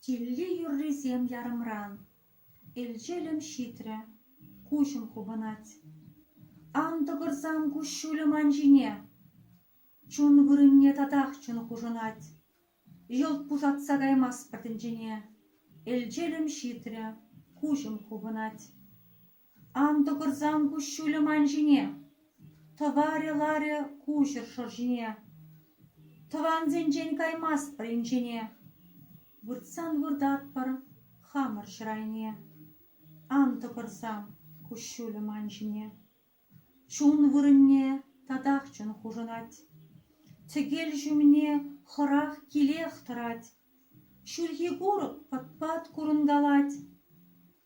Килли юррисем ярӑмран элчелӗм ҫитрӗ, куҫӑм хупӑнать. Ан тӑкӑрсан куҫҫулӗ ман ҫине, чун вырӑнне татах чӑн хушӑнать. Йӑлт пусатса каймастпӑр тӗнчене, элчелӗм ҫитрӗ, куҫӑм хупӑнать. Ан тӑкӑрсан куҫҫулӗ ман ҫине, тӑварӗ ларӗ куҫӑр шӑр ҫине. Тӑвансенчен каймастпӑр инҫене, выртсан выртатпӑр хамӑр ҫӗр айне. Ан тӑкӑрсан куҫҫулӗ ман ҫине, чун вырӑнне татах чун хушӑнать. Тӗкел ҫумне хӑрах килех тӑрать. Ҫурхи курӑк пӑт-пат курӑнкалать,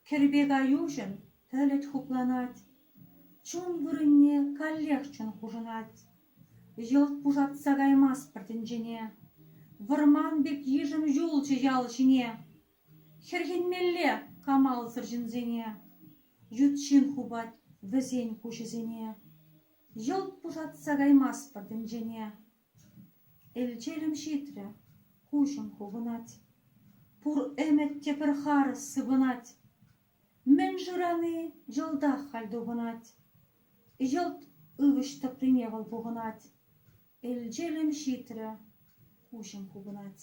кӗрпе каюҫӑн пӗлӗт хупланать, чун вырӑнне каллех чун хушӑнать. Йӑлт пушатса каймастпӑр тӗнчене, вӑрман пек йышӑм юлчӗ ял ҫине. Хӗрхенмелле камалсӑр ҫынсене, ют ҫын хупать вӗсен куҫӗсене. Йӑлт пушатса каймастпӑр тӗнчене. Элчелӗм ҫитрӗ, куҫӑм хупӑнать. Пур ӗмӗт те пӗр харӑс сыпӑнать. Мӗн шырани йӑлтах халь тупӑнать. Йӑлт ывӑҫ тӑприне вӑл пухӑнать. Элчелӗм ҫитрӗ, куҫӑм хупӑнать.